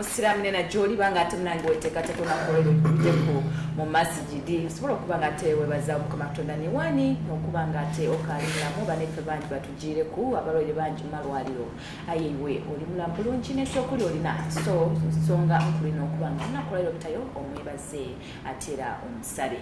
musiraamu nena gyoliba nga ate munange weteekateeka onakuweebuddeko mu masigidi osobola okuba nga ate webaza omukama katonda newani nokuba nga ate okalinamu baneffe bangi batugiireku abalwaire bangi mumalwaliro aye iwe oli mulamu bulungi nekyokuli olina so nsonga nkulina okuba nga onakolera obutayo omwebaze ate era omusabe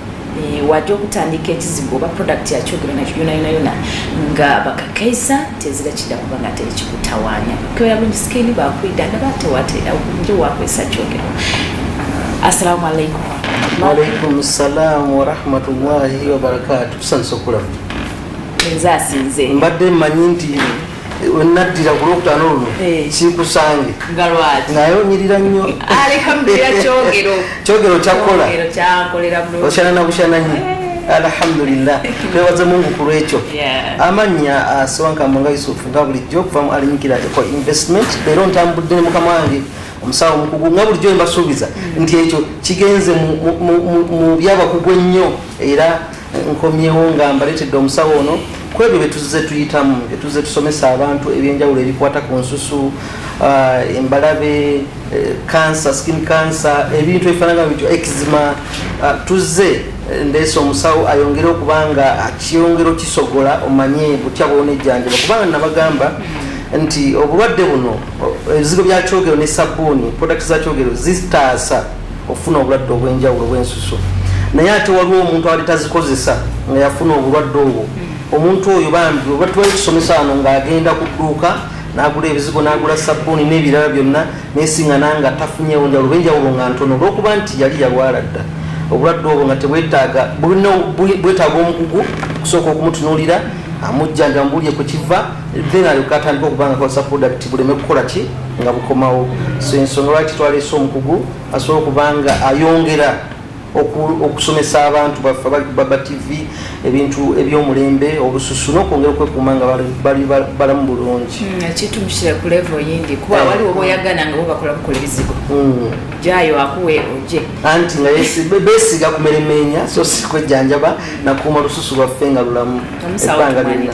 Eh, wajja okutandika ekizigo oba product yakyogera nakyo yona yona yona nga bakakaisa tezira kida kuba nga teri kikutawanya kyoya bungi sikini bakwida nga batewatera nje wakwesa kyogero assalamu alaikum waalaikum ssalamu warahmatullahi wabarakatu tusanyusa okulaba nze asinze mbadde mmanyi nti naddira ku lwokutaano luno eh. sikusange naye onyirira nnyo kyogero kyakola okyana nabukyana nyo eh. alhamdulillah twebaze mungu ku lwekyo amannya asiwankambo ah, nga yusufu nga bulijjo okuva mu alinyikira eko investment leero ntambudde ne mukama wange omusawo omukugu nga bulijjo embasuubiza mm. nti ekyo kigenze mu byabakugu ennyo era nkomyewo nga mbaletedde omusawo ono kwebyo byetuze tuyitamu byetuze tusomesa abantu ebyenjawulo ebikwata ku nsusu uh, embalabe kansa uh, skin kansa ebintu ebifanana bityo ekizima uh, tuze ndeesa omusawo ayongere okuba nga akyongera okisogola omanye butya bwonejjanjaba kubanga nabagamba nti obulwadde buno ebizigo byakyogero ne sabbuuni product zakyogero zitaasa okufuna obulwadde obw'enjawulo bw'ensusu naye ate waliwo omuntu ali tazikozesa nga yafuna obulwadde obwo omuntu oyo bambi oba tuwali tusomesa wano ng'agenda ku dduuka n'agula ebizigo n'agula sabbuuni n'ebirala byonna nesiŋana nga tafunyewo njawulo bw'enjawulo nga ntono olw'okuba nti yali yalwala dda obulwadde obwo nga tebwetaaga bwetaaga omukugu kusooka okumutunuulira amujjanja mubulye ku kiva then alyoke atandika okuba nga akozesa product buleme kukola ki nga bukomawo so ensonga lwaki twaleese omukugu asobola okuba nga ayongera okusomesa abantu baffe baba tv ebintu ebyomulembe obususu nokwongera okwekuuma nga bali balamu bulungi hmm, kitumusira ku levo yindi kuba eh. waliwo boyagana nga bobakola bukola ebizigo hmm. jayo akuwe oje anti nga besiga kumeremenya so sikwejjanjaba nakuuma lususu lwaffe nga lulamu ebbanga lyonna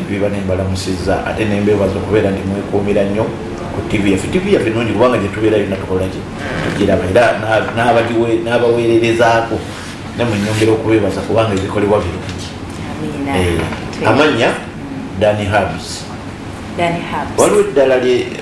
biba nembalamusiza ate nembebaza okubeera nti mwekuumira nnyo ku ttivi yaffe ttivi yaffe nungi kubanga gyetubeera yonna tukolaki tugiraba era n'abaweererezaako ne mu nyongera okubeebaza kubanga ebikolebwa birungi eh, amannya dani habs waliwo eddala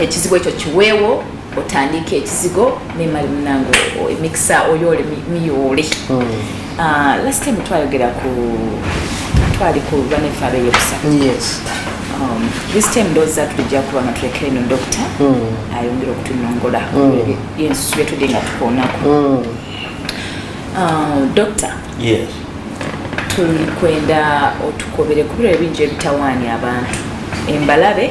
ekizigo ekyo kiweewo otandika ekizigo nemali munange emikisa oyoole miyoole hmm. ah, last time twayogera ku twali ku banefe abeyobusa um, this time ndoza tulijja kuba nga tulekere no dokita hmm. ayongera okutunongola hmm. yensusu byetudde nga tukoonako ah, dokita tulikwenda otukobere kubira ebingi ebitawaanya abantu embalabe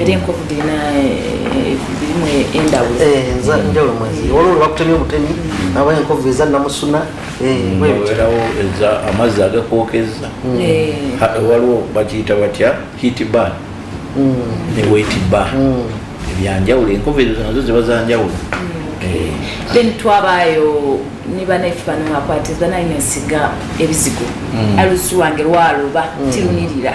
era enkovu dirina birimu enjawulo mwezi waliwo lwebakutemya obutemi aba enkovu eza namusuna werawo eza amazzi agakwokezza waliwo bakiyita batya hit ban ne wet ban ebyanjawulo enkovu ezo nazo ziba zanjawulo then twabaayo nibanafe bano akwatiza naye nesiga ebizigo alusi wange lwaloba tirunirira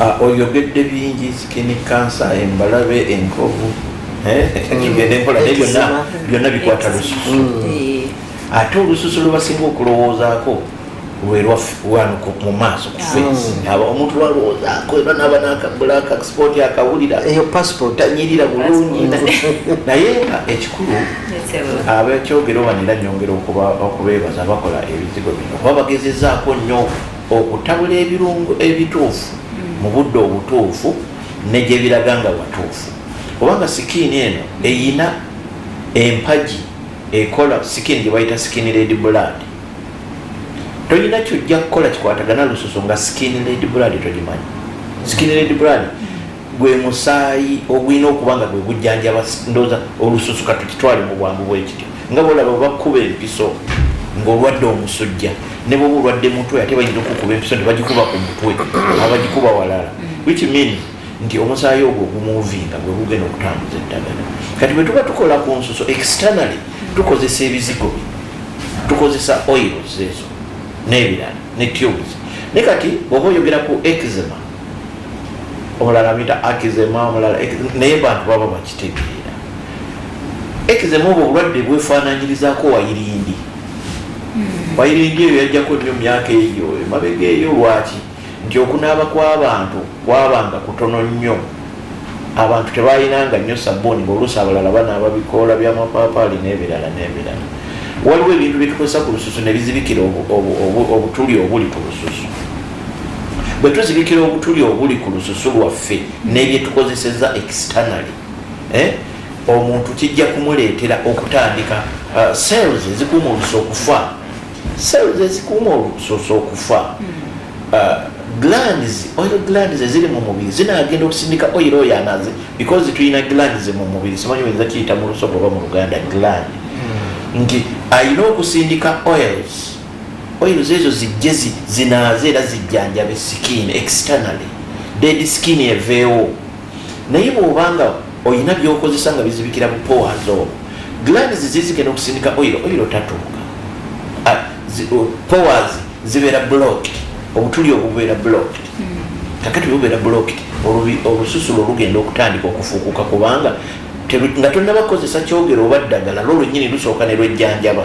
Ah, oyogedde bingi sikini kansa embalabe enkovu eh, byonna bikwata lususu mm. eh. ate olususu lwebasinga okulowoozaako lwerwanuko mu maaso kufesi mm. aba omuntu lwalowoozaako era naba nakabulaka sipooti akawulira eyo pasipooti tanyirira bulungi naye nga ekikulu abekyogero banera nyongera okubeebaza bakola ebizigo bino kuba bagezezaako nnyo okutabula ebirungo ebituufu mu budde obutuufu ne gye biraga nga watuufu kubanga sikiini eno eyina empagi ekola sikiini gye bayita sikiini ledi bulaadi tolina kyojja kukola kikwatagana lususu nga sikiini ledi bulaadi togimanyi sikiini ledi bulaadi gwe musaayi ogulina okuba nga gwe gujjanjaba ndooza olususu katukitwale mu bwangu bwekityo nga bolaba bakkuba empiso ng'olwadde omusujja ne bwoba olwadde mutwe ate bayinza okukuba empiso ne bagikuba ku mutwe abagikuba walala which mean nti omusaayi ogwo ogumuvinga gwe gugenda okutambuza eddagala kati bwe tuba tukola ku nsuso externally tukozesa ebizigo bi tukozesa oils ezo n'ebirala ne tubes ne kati bwoba oyogera ku exema omulala amita akizema omulala naye bantu baba bakitegeera ekizema obwo obulwadde bwefaananyirizako wayirindi hmm. wayirindi eyo yajjako nnyo myaka eyo emabega eyo lwaki nti okunaaba kw'abantu kwabanga kutono nnyo abantu tebalinanga nnyo sabuuni ngaoluusi abalala banaaba bikoola byamapaapaali n'ebirala n'ebirala waliwo ebintu byetukozesa ku lususu ne bizibikira obutuli obuli ku lususu bwe tuzibikira obutuli obuli ku lususu lwaffe n'ebyetukozeseza externally eh, omuntu kijja kumuleetera okutandika uh, cells ezikuuma olusa okufa cells ezikuuma olususu okufa uh, glands oil glands eziri mu mubiri zinagenda okusindika oil oyo anaze because tulina glands mu mubiri simanyi oyinza kiyita mu lusoga oba mu luganda gland hmm. nti alina okusindika oils oil zezo zijje zinaaze era zijjanjabe skin externally dead skin eveewo naye bwobanga olina byokozesa nga bizibikira mu powers obo glands zizike nokusindika oil oil tatuuka ah, powers zibeera blocked obutuli obubeera blocked hmm. kakati bubeera blocked olususulo olugenda okutandika okufuukuka kubanga nga tonnabakozesa kyogero oba ddagala lwo lwenyini lusooka ne lwejjanjaba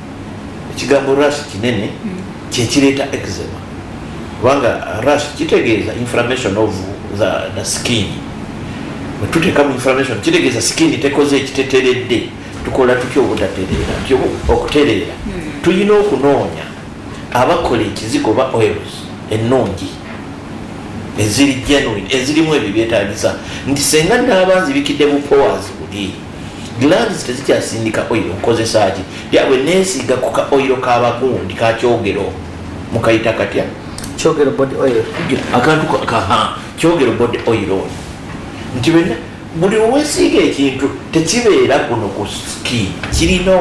ekigambo rash kinene kyekireeta eczema kubanga rash kitegeeza inflammation of the, the skin wetuteeka mu inflammation kitegeeza skin tekoze ekiteteredde tukola tutya obutatereera ty okutereera hmm. tulina okunoonya abakola ekizigo oba oils ennungi eziri genuine ezirimu ebyo byetagisa nti senga naabanzibikidde bupowazi buli glands tezikyasindika oil nkozesaki yabwe nesiga ku ka oil kabakundi kakyogero mukayita katya kyogero body oil akantu kaha kyogero body oil ono nti bena buli owesiiga ekintu tekibeera kuno ku ski kirina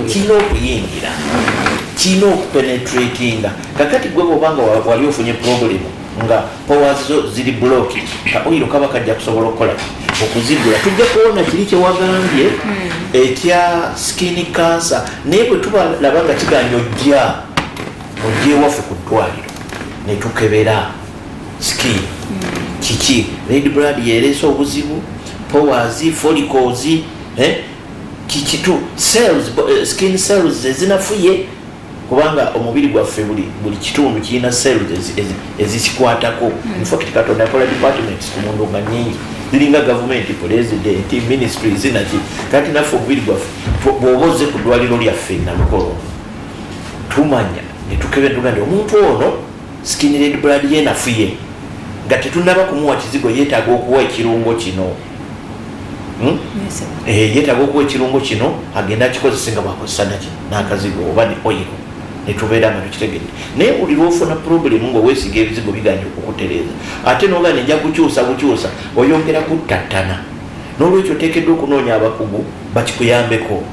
kirina okuyingira kirina okupenetratinga kakati gwe bwobanga wali ofunye problemu nga powers zo ziri bloki ka oyiro kaba kajja kusobola okukola okuzigula tujja kuwona kiri kyewagambye hmm. ekya skin cancer naye bwe tubalaba nga kiganya ojja ojja ewaffe ku ddwaliro ne tukebera skin hmm. kiki red blood yereese obuzibu powers folicos eh? kikitu cells eh, skin cells ezinafuye kubanga omubiri gwaffe buli buli kitundu kirina cells ezikikwatako hmm. infact katonda akola departments ku mundu nga nyingi ziringa gavumenti president ministry zinaki kati naffe omubiri gwaffe bwoba oze ku ddwaliro lyaffe nalukolo tumanya netukebe tuga nti omuntu ono skinred blood yenafuye nga tetunaba kumuwa kizigo yetaaga okuwa ekirungo kino hmm? eh, yetaga okuwa ekirungo kino agenda akikozese nga bwakozesa naki nakazigo oba ne oyiro netubeera nga tukitegedde naye buli lwofuna problemu nga owesiga ebizigo biganya okukutereeza ate noga neja kukyusa bukyusa oyongera kuttattana nolwekyo otekeddwa okunoonya abakugu bakikuyambeko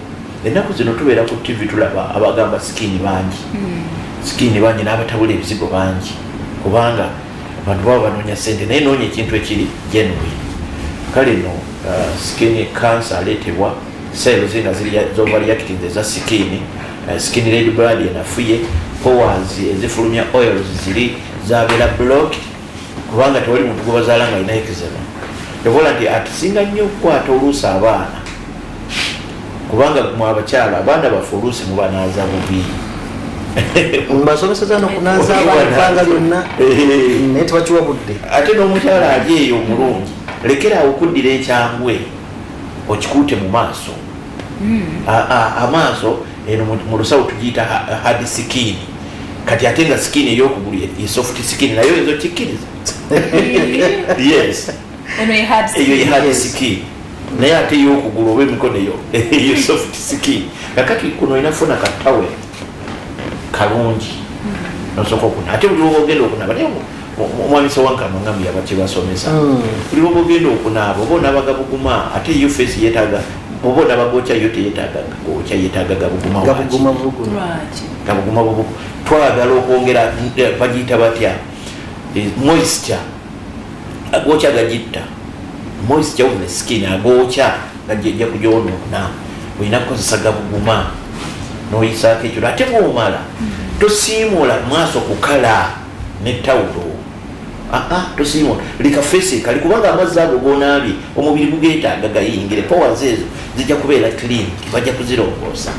ennaku zino tubeera ku ttivi tulaba abagamba sikini bangi hmm. sikini bangi n'abatabula ebizigo bangi kubanga abantu baba banoonya sente naye noonya ekintu ekiri genuine kale no uh, skin cancer aleetebwa cells nga zovaliakiting eza sikini uh, skin red blood enafuye powers ezifulumya oils ziri zabeera block kubanga tewali muntu gwebazaala nga alina ekizema evola nti atusinga nnyo okukwata oluusi abaana kubanga mwe abakyala abaana baffe oluusi mubanaaza bubi mbasomeseza nokunaaza abaana lyonna naye tebakiwa budde ate n'omukyala ali eyo omulungi lekera awo okuddira ekyangwe okikuute mu maaso hmm. amaaso eno mu lusawo tugiyita hard skin kati ate nga skin eyokugulu ye soft skin naye oyinza okikkiriza yes eyo yehadi siki naye ate eyokugulu oba emikono eyo eyo soft siki kakati kuno olina kufuna katawe kalungi mm-hmm. nosoka okuna ate buli wobogenda okunaba naye omwamisa wankano nga muyaba kyebasomesa mm. buli wobogenda okunaaba oba onabaga buguma ate yo fesi yetaga oba onabaga okya yo teyetagaga okya yetaga gabuguma gabuguma bubugu twagala okwongera eh, bagiyita batya eh, moisture agokya gagitta moist jawufu ne skin agokya gajja kugyonoona olina kukozesa gabuguma noyisaako ekiro ate bwomala tosiimuula maaso kukala ne tawulo tosiimuula leka fesi kali kubanga amazzi ago gonaabye omubiri gugeetaaga gayingire powers ezo zijja kubeera clean bajja kuzirongoosa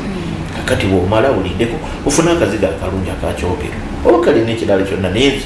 kakati bwomala uliddeko ofuna akaziga akalungi akakyogero oba kalina ekirala kyonna nenzi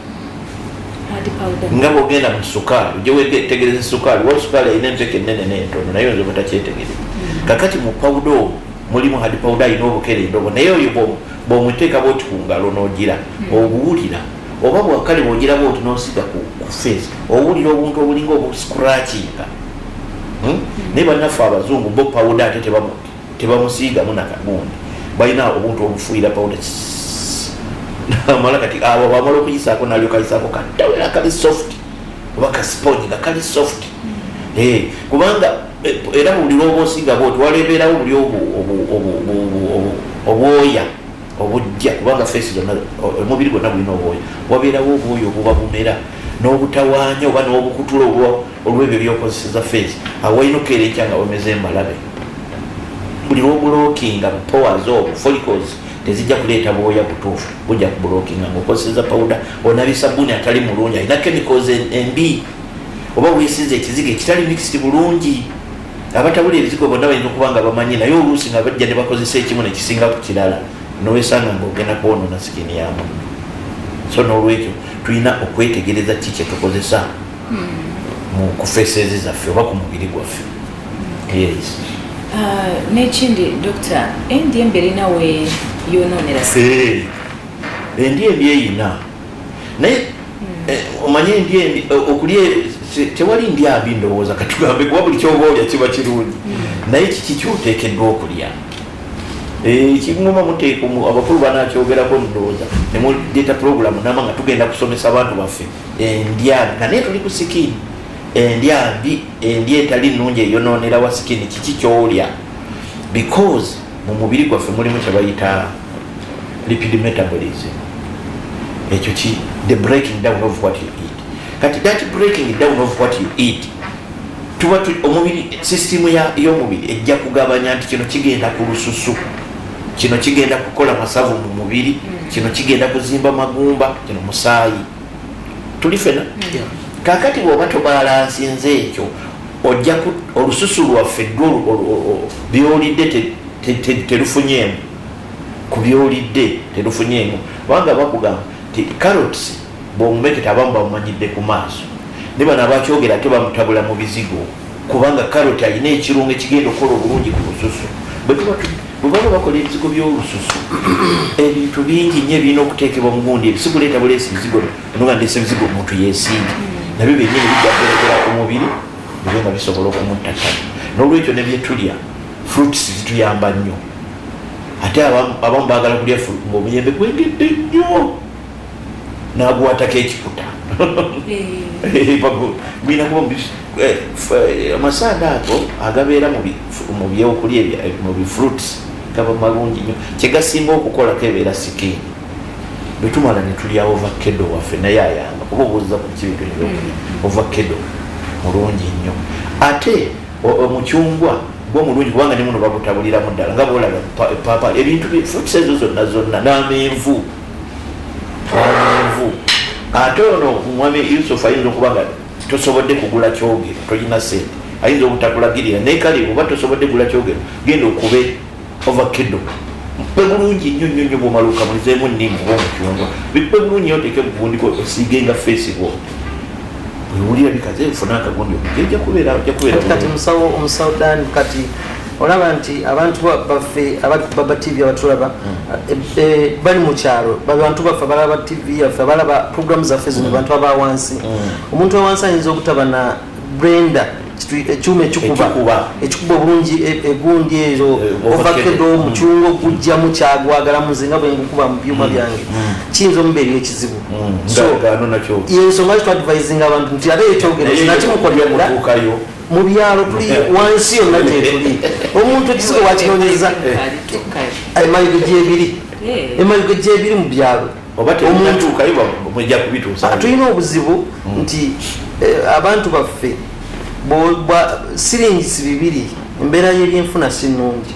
nga bwogenda mu sukaali ojja wetegereza esukaali wa sukaali alina enteka enene n'entono naye oyinza obutakyetegereza mm. kakati mu pawuda omu mulimu hadi pawuda alina obukerenda obwo naye oyo bwomuteeka bwoti ku ngalo n'ogira mm. obuwulira oba bwakale bwogira bwoti n'osiga ku feesi owulira obuntu obulinga obuscratchinga hmm? mm. naye bannaffe abazungu bo pawuda ate tebamuti tebamusiigamu nakagundi balina obuntu obufuuyira pawuda amala kati awo bamala okuyisaako nalyo kayisaako katawera kali soft oba kasiponyi nga kali soft eh, kubanga eh, era buli lwoba osiiga bwoti walebeerawo buli obwoya obujja kubanga feesi zonna omubiri gwonna gulina obwoya wabeerawo obwoya obuba bumera n'obutawaanya oba n'obukutula obwa olwebyo byokozeseza face awalina okukeera ekya nga wemeza embalabe buli lwobulokinga powers obo folicos tezijja kuleeta bwoya butuufu bujja kubulokinga ngaokozeseza pawuda onabye sabuni atali mulungi alina chemicals embi oba wesinza ekizigo ekitali mixed bulungi abatabula ebizigo bonna balina okuba nga bamanyi naye oluusi nga bajja ne bakozesa ekimu nekisinga ku kirala nowesanga ngaogenda kwonona sikini yamu so nolwekyo tulina okwetegereza ki kyetukozesa mu kufeseezi zaffe oba ku mubiri gwaffe yes uh, nekindi dokita endi emberi nawe yononera eh, endi embi eyina naye hmm. eh, omanyi endi embi eh, okulya tewali ndi abi ndowooza katugambe kuba buli kyoba olya kiba kirungi hmm. naye kiki kyoteekeddwa okulya ekiguma eh, muteeka abakulu banakyogerako ndowooza nemuleeta pulogulamu nama nga tugenda kusomesa abantu baffe endya nga naye tuli ku sikini endya mbi endya etali nnungi eyonoonera wa sikini kiki kyolya because mu mubiri gwaffe mulimu kyebayita lipid metabolism ekyo ki the breaking down of what you eat kati that breaking down of what you eat tuba omubiri system yomubiri ejja kugabanya nti kino kigenda ku lususu kino kigenda kukola masavu mu mubiri mm. kino kigenda kuzimba magumba kino musaayi tuli fena mm. kakati bwoba tobalansinze ekyo ojja olususu lwaffe byolidde terufunyeemu ku byolidde terufunyeemu kubanga bakugamba ti carots bwomumeketa abamu bamumanyidde ku maaso ne bano abakyogera ate bamutabula mu bizigo kubanga karoti alina ekirungo ekigenda okukola obulungi ku lususu bwebaba bakola ebizigo byolususu ebintu bingi nyo ebirina okuteekebwa mugundi ebisigo leeta buleesi bizigo noga ndese bizigo omuntu yesinga nabyo byenyini bijjakuberekera ku mubiri nabyo nga bisobola okumuttattana nolwekyo nebyetulya fruits zituyamba nnyo ate abamu bagala kulya ngaomuyembe gwengedde nnyo naguwatako ekikuta mulina kuba amasaanda ago agabeera mu byokulya mu bifruits gaba malungi nyo kyegasinga okukolako ebeera sikiini bwetumala netulya ovakedo waffe naye ayamba kuba obuuza ku kibintu ebyokulya mm. ovakedo mulungi nnyo ate omucungwa gwo mulungi kubanga nemuno bagutabuliramu ddala nga bolaba epaapa ebintu fruits ezo zonna zonna n'amenvu twamanvu ate ono omwami yusufu ayinza okuba nga tosobodde kugula kyogero tolina sente ayinza obutakulagirira naye kale oba tosobodde gula kyogero genda okube ovakido bikpe bulungi nnyo nnyo nnyo bwomaluka mulizeemu nnimu oba omucungwa bikpe bulungi oteeke mugundiko osiige nga feesi bwo bwewulira bikaze funa akagundi okujja kubeera omusawo omusawo dan kati olaba nti abantu baffe baba tv abatulaba mm. e, e, bali mukyalo babantu baffe abalaba tv yaffe abalaba programu zaffe zino mm. bantu abawansi mm. omuntu awansi ayinza okutaba na brenda ekyuma ekikuba ekikuba obulungi e, egundi ezo eh, ovakedo omucunga okugjamu kyagwagala muze nga bwengukuba mu byuma byange kiyinza omubeera ekizibu yensonga kitwadvisinga abantu nti ate ekyogerenakimukolera mu byalo tuli wansi yonna gyetuli omuntu ekizigo wakinonyeza emaligo gyebiri emaligo gyebiri mu byalo ah, tulina obuzibu hmm. nti eh, abantu baffe siringisi bibiri embeera yebyenfuna si nungi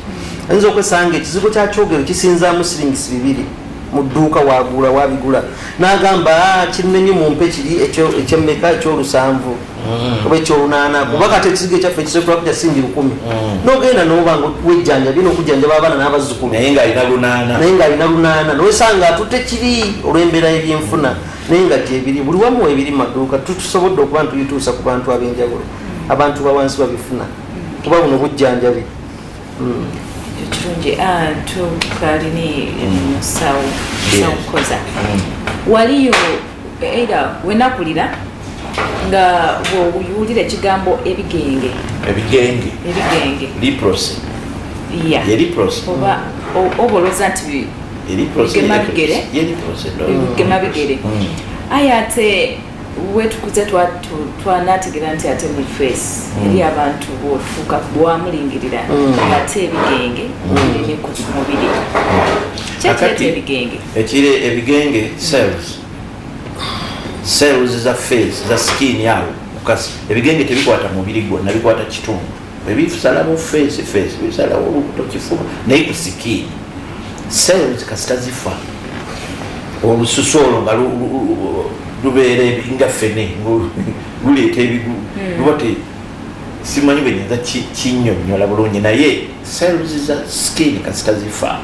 ayinza okwesanga ekizigo kyakyogero kisinzamu siringisi bibiri mu dduuka wagula wabigula nagamba ah, kinnenyo mumpe kiri ekyemmeka ekyolusanvu mm. oba ekyolunaana mm. kuba kati ekisiga ekyaffe ekisekulaku kya simbi lukumi mm. nogenda noba nga wejjanjabi nokujjanjaba abaana n'abazzukulu naye ng'alina lunaana naye ng'alina lunaana nowesanga atutte kiri olw'embeera y'ebyenfuna naye nga gyebiri buli wamu ebiri maduuka tutusobodde okuba ntuyituusa ku bantu ab'enjawulo abantu bawansi babifuna kuba buno bujjanjabi ekirungi ah, tukalini musawo musawo kukoza waliyo era wenakulira nga bwowulira ekigambo ebigenge ebigenge ebigenge liprosi ya yeliprosi oba oboloza nti bigema bigere yeliprosi bigema bigere hmm. aye ate wetukuze twanategera nti ate mu face hmm. eri abantu bwofuuka bwamulingirira hmm. ate ebigenge ebiri ku mubiri kyekireeta ebigenge ekire ebigenge cells cells za face za skin yawo mukasi ebigenge tebikwata mubiri gwonna bikwata kitundu ebisalawo face face bisalawo olubuto kifuba naye ku skin cells kasita zifa olususu olwo nga lubeera nga fene luleeta ebigu hmm. luba te simanyi bwenyinza kinyonyola bulungi naye cells za skin kasita zifaamu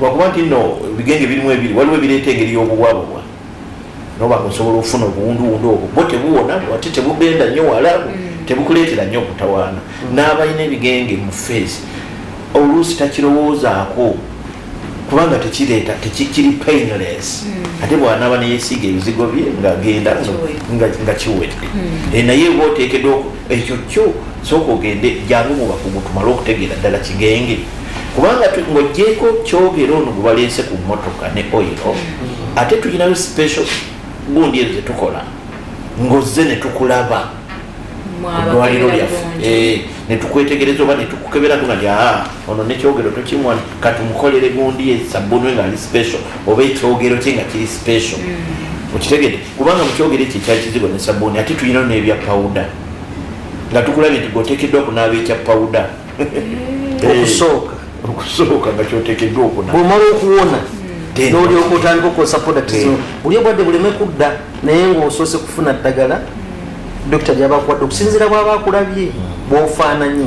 lwakuba nti no ebigenge birimu ebiri waliwo ebireeta engeri y'obubwabubwa noba nga osobola okufuna obuwunduwundu obwo bo tebuwona ate tebugenda nnyo wala mm. tebukuleetera nnyo okutawaana mm. n'abalina ebigenge mu feesi oluusi takirowoozaako kubanga tekireeta tekikiri painless hmm. ate bwanaaba neyesiiga ebizigo bye ngagenda nga kiwedde hmm. eh, naye oba oteekeddwa ekyo kyo sooka ogende jalo mu bakugu tumale okutegeera ddala kigenge kubanga ng'ogyeko kyogera ono gwe balense ku mmotoka ne oyiro ate tulinayo special gundi ezo zetukola ng'ozze ne tukulaba dwaliro lyaffe eh, netukwetegereza oba netukukebera tuna lya ah, ono nekyogero tokimwa katumukolere gundi ye sabbunwe ngaali special oba ekyogero kye nga kiri special mm. okitegede kubanga mukyogere ekyo ekyali kizigo ne sabuuni ate tulinayo n'ebya pawuda nga tukulabye nti gwotekeddwa okunaaba ekya pawuda okusooka okusooka nga kyotekeddwa okuna bwomala okuwona nolyoka otandika okukozesa product zino buli obwadde buleme kudda naye ngaosoose kufuna ddagala dokita lyabakuwadde okusinzira bwaba akulabye bwofaananye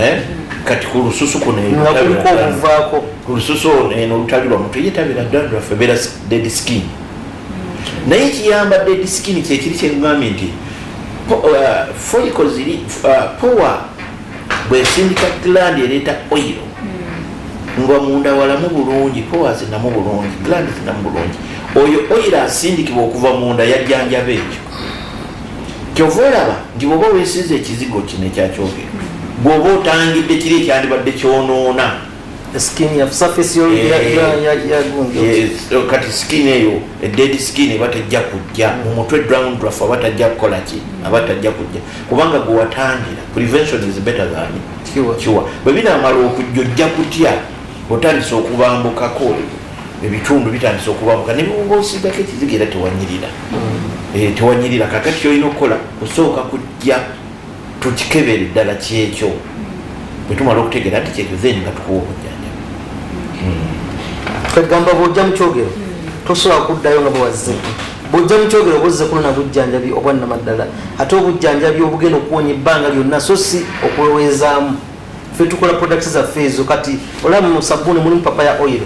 eh? kati ku lususu kunokuliko olususu ono eno olutali lwa mutu ye tabera dandi lwaffe beera dead skin naye ekiyamba dead skin kyekiri kyekugambye nti uh, foliko ziri uh, power bwesindika gland ereeta oil hmm. nga munda walamu bulungi power zinamu bulungi gland zinamu bulungi oyo oil asindikibwa okuva munda yajjanjaba ekyo kyova olaba nti bwoba wesiza ekizigo kino ekyakyogera bwoba otangidde kiri ekyandibadde kyonoona eh, kati skin eyo eded skin eba tejja kujja mu mutwe dround rafu aba tajja kukola ki aba tajja kujja kubanga gwewatangira prevention is better than kiwa bwe binamala okujja ojja kutya otandisa okubambukako ebitundu bitandise okubabuka nebiwuba osigako ekiziga era tewanyirira mm. eh, tewanyirira kakati kyolina okukola kusooka kujja tukikebere ddala kyekyo bwetumala okutegeera nti kyekyo then nga tukuwa obujanja kagamba mm. bwojja mukyogero mm. tosobola kuddayo nga bwewazze bwojja mukyogero buzze kunona bujjanjabi obwannamaddala ate obujjanjabi obugenda okuwonya ebbanga lyonna so si okuweweezaamu ffe tukola products zaffe ezo kati olaba mu sabbuuni mulimu papa ya oil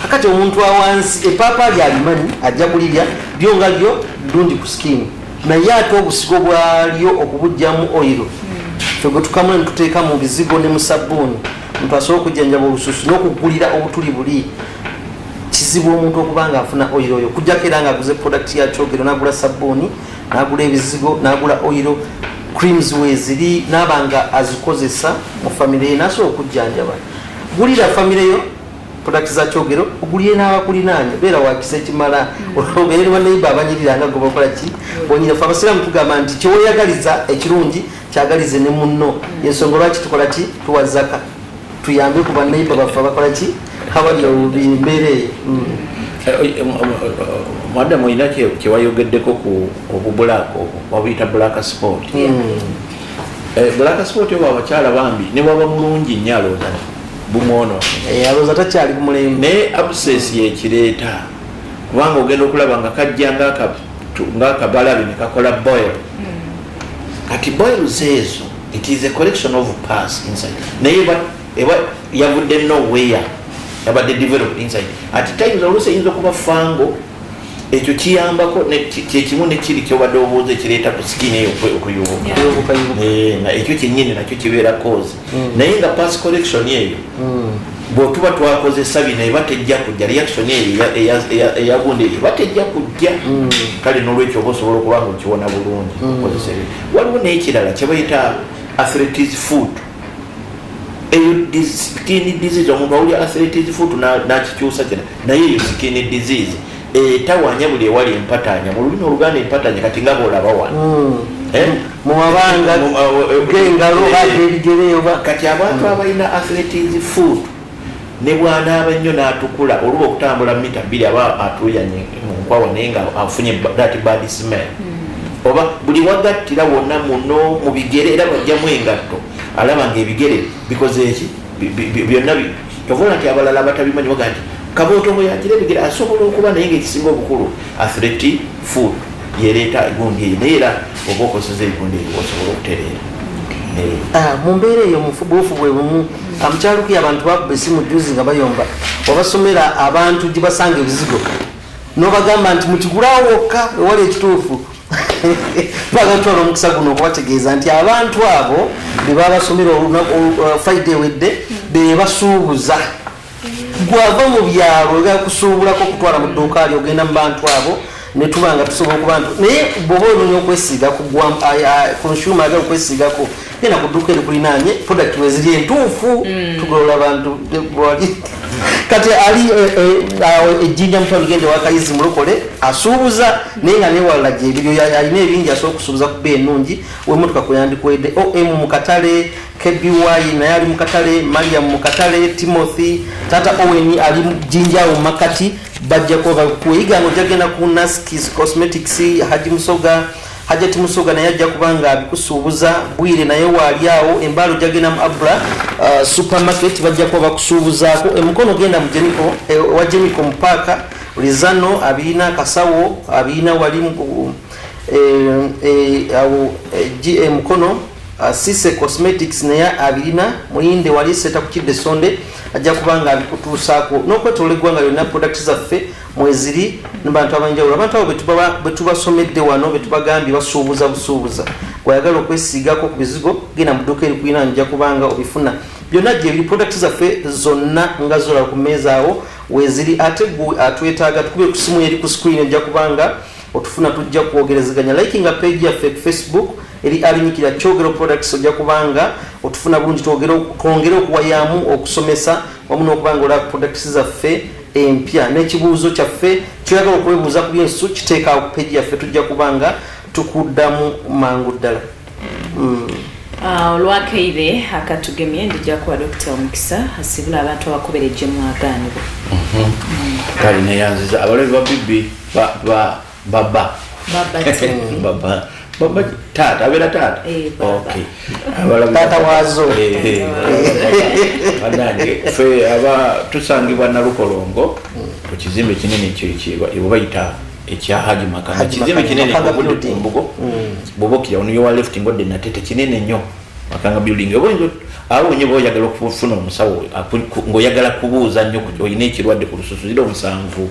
kakati omuntu awansi epaapa ali alimanyi ajja kulirya lyo nga lyo ddungi ku skin naye ate obusigo bwalyo okubujjamu oil ffe gwe tukamula ne tuteeka mu bizigo ne mu sabbuuni omuntu asobola okujjanjaba olususu n'okugulira obutuli buli kizibu omuntu okuba nga afuna oil oyo kujjako era nga aguze product yakyogero nagula sabbuuni nagula ebizigo nagula oiro creams weziri naba nga azikozesa mu famire ye nasobola okujjanjaba gulira famire yo product za kyogero ogulire n'abakulinaanya beera wakisa ekimala obeere ne banaiba abanyirira nga gwebakola ki onyira fe abasiraamu tugamba nti kyeweyagaliza ekirungi kyagalize ne munno yensonga lwaki tukola ki tuwa zaka tuyambe ku banaiba baffe abakola ki habali obubi embeera eyo mm. eh, eh, eh, madamu olina kyewayogeddeko ku obubulaaka obwo wabuyita black sport mm. black sport obwo abakyala bambi newaba mulungi nnyo alooza bumwonoalooza takyali kumulembe naye absesi yekireeta kubanga ogenda okulaba nga kajja ngaakabi nga akabalabi nekakola boil hmm. kati boil zeezo it is a collection of pass inside naye eba yavudde nowhere yabadde developed inside at times oluusi eyinza okuba fango ekyo kiyambako kyekimu nekiri kyobadde obuuza ekireeta ku skin eyo okuyubuka eh, ekyo kyenyini nakyo kibeera cause hmm. naye nga pass collection eyo hmm. bwetuba twakozesa bino eba tejja kujja reaction eyo eyagunda eyo eba tejja kujja mm. kale nolwekyo oba osobola okuba nga okiwona bulungi mm. okozesa ebyo waliwo nekirala kyebayita athletis food eyo skin disease omuntu awulya athletis food nakikyusa kina naye eyo skin disease etawanya buli ewali empatanya mu lulimi oluganda empatanya kati nga bolaba wano hmm. eh? mumabanga eh, eh, gengalo bagebigereyoba kati abantu hmm. abalina athletics food ne bwanaaba nnyo n'atukula oluba okutambula mita bbiri aba atuyanye munkwawa naye nga afunye dati bad smell hmm. oba buli wagattira wonna muno mu bigere era bajjamu engatto alaba nga ebigere bikoze eki byonna Tovola nti abalala abatabimanyi baga nti kabooto mwe yagira ebigere asobola okuba naye ngaekisinga obukulu athleti food yereeta egundi eyo naye era oba okozeza egundi eyo osobola okutereera ah, mu mbeera eyo mufubuufu bwe bumu amukyalukuy ah, abantu bakuba esimu juzi nga bayomba wabasomera abantu gye basanga ebizigo nobagamba nti mukigulawo wokka ewali ekituufu twagala kutwala omukisa guno okubategeeza nti abantu abo bebabasomera uh, faida ewedde bebasuubuza gwava mu byalo ogenda kusuubulako okutwala mu dduuka ali ogenda mu bantu abo netuba nga tusobola okuba nti naye bwoba ononya okwesiiga ku consumer agala okwesiigako genda ku dduuka erikulinaanye product weziri entuufu mm. tugolola bantu bwali kati ali eh, eh, awo ejjinja mutwalo genda ewakayizi mulokole asuubuza naye nga newalala gyebiri oyo alina ebingi asobola okusuubuza kuba enungi wemotoka kweyandikwedde om mukatale kby naye ali mukatale mariam mukatale timothy tata owen ali jinja awo mumakati bajja kuba bakuyiga nga ojagenda ku naskis cosmetics haji musoga Hajjati Musoga naye ajja kuba nga abikusuubuza Bwire naye waali awo embaalo jagenda mu Abra uh, supermarket bajja kuba bakusuubuzaako emukono genda mu Jeniko eh, wa Jeniko mu paaka Lizano abirina akasawo abirina wali uh, eh, eh, awo eh, GA Mukono uh, Sise Cosmetics naye abirina muyinde wali seta kukidde sonde ajja kuba nga abikutuusaako n'okwetoola eggwanga lyonna product zaffe mweziri nebantu abanjawulo abantu abo betubasomedde wano betubagambye basuubuza busuubuza gwayagala okwesiigako ku bizigo genda muduuka erikulina nja kubanga obifuna byonna gyebiri products zaffe zonna nga zola ku meeza awo weziri ate gwe atwetaaga tukubire ku simu yeri ku screen ojja kubanga otufuna tujja kwogerezeganya likinga page yaffe ku facebook eri alinyikira kyogero products ojja kubanga otufuna bulungi twongere okuwayamu okusomesa wamu n'okubanga olaba products zaffe empya n'ekibuuzo kyaffe kyoyagala okwebuuza ku byensu kiteeka ku peji yaffe tujja kuba nga tukuddamu mangu ddala mm. ah, olwakaire akatugemye ndijja kuwa dokita omukisa asibula abantu abakubereje mwagaanibwa mhm. mm. kale neyanziza abalabi ba bibi baba baba baba baba taata abeera taata eh, taata waazo eh, eh, banange fe aba tusangibwa nalukolongo ku kizimbe kinene kyebayita ekya haji makanga kizimbe kinene obudde kumbugo bwobokira mm. onoyowa left ngodde natete kinene nnyo makanga building oboinza awo nyo boyagala okufuna omusawo ngaoyagala kubuuza nnyo olina ekirwadde ku lususu zira omusanvu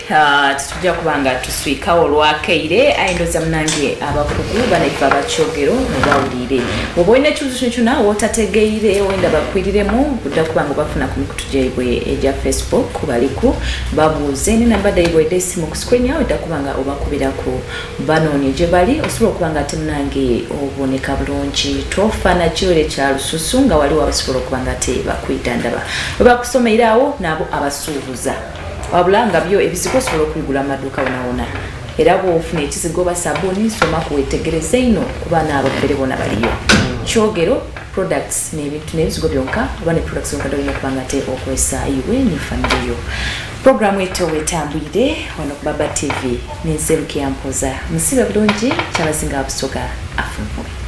Ah, tetujja kuba nga tuswikawo olwakeire aye ndoza munange abakugu banaife abakyogero mubawulire oba olina ekibuzo kino kyona wotategeire wenda bakwiriremu budda kuba nga obafuna ku mikutu gyaibwe egya facebook kubaliku babuuze ne namba daibwe eda esimu ku screen yawe dda kuba nga obakubiraku banoonye gye bali osobola okuba nga ate munange oboneka bulungi tofaana kiwero ekya lususu nga waliwo abasobola okuba nga te bakuyita ndaba webakusomeiraawo naabo abasuubuza wabula nga byo ebizigo osobola okubigula mu maduuka wonawona era bwofuna ekizigo oba sabuni soma kuwetegereze ino kuba naabo bere bona baliyo kyogero products n'ebintu n'ebizigo byonka oba ne products zonka dolina okuba nga te okozesa iwe ne famire yo programu eto wetambwire wano ku baba tv nenze lukeyampoza musibe bulungi kyabazinga abusoga afunvue